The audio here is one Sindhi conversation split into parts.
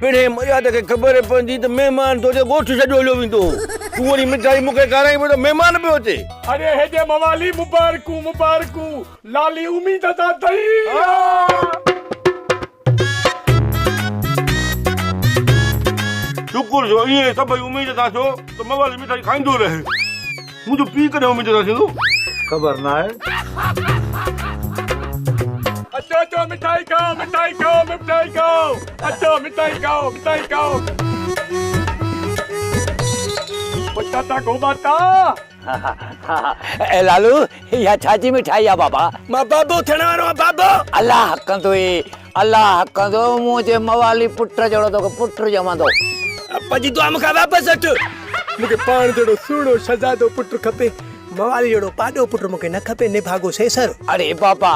پڻهين مياد کي خبر پوندي ته مهمان توجي ڳوٺ ڇڏيو هليو ويندو هو. تون وڃي مٺائي مون کي کارائين پيو ته مهمان پيو اچي. اڙي هيجي موالي مبارڪون مبارڪون لالي اميد دا دئي آ. شڪر جو ائين سڀئي اميد دا ٿيو ته موالي مٺائي کائيندو رهي. منهنجو پيء ڪڏهن اميد جوڌا ٿيندو؟ خبر ناهي. اچو اچو مٺائي کائو مٺائي کائو مٺائي کائو اچو مٺائي کائو مٺائي کائو پٽاٽا گوباٽا ها ها ها اي لالو اها ڇا جي مٺائي آ بابا. مان بابو ٿيڻ وارو آهيان بابو. الله ڪندوئي. الله ڪندو منهنجي موالي پٽ جهڙو توکي پٽ ڄمندو. ابا جي دعا مون کان واپس وٺ. مون کي پاڻ جهڙو سهڻو شهزادو پٽ کپي. موالي جهڙو پاڏو پٽ مون کي نه کپي نڀاڳو سيسر. اڙي بابا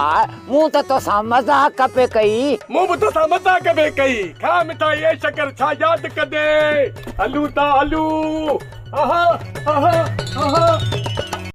مون ته توسان مذاق پئي ڪئي. مون به توسان مذاق پئي ڪئي. کاء مٺائي اي شڪر ڇا ياد ڪندين. هلون ٿا هلون اها اها اها.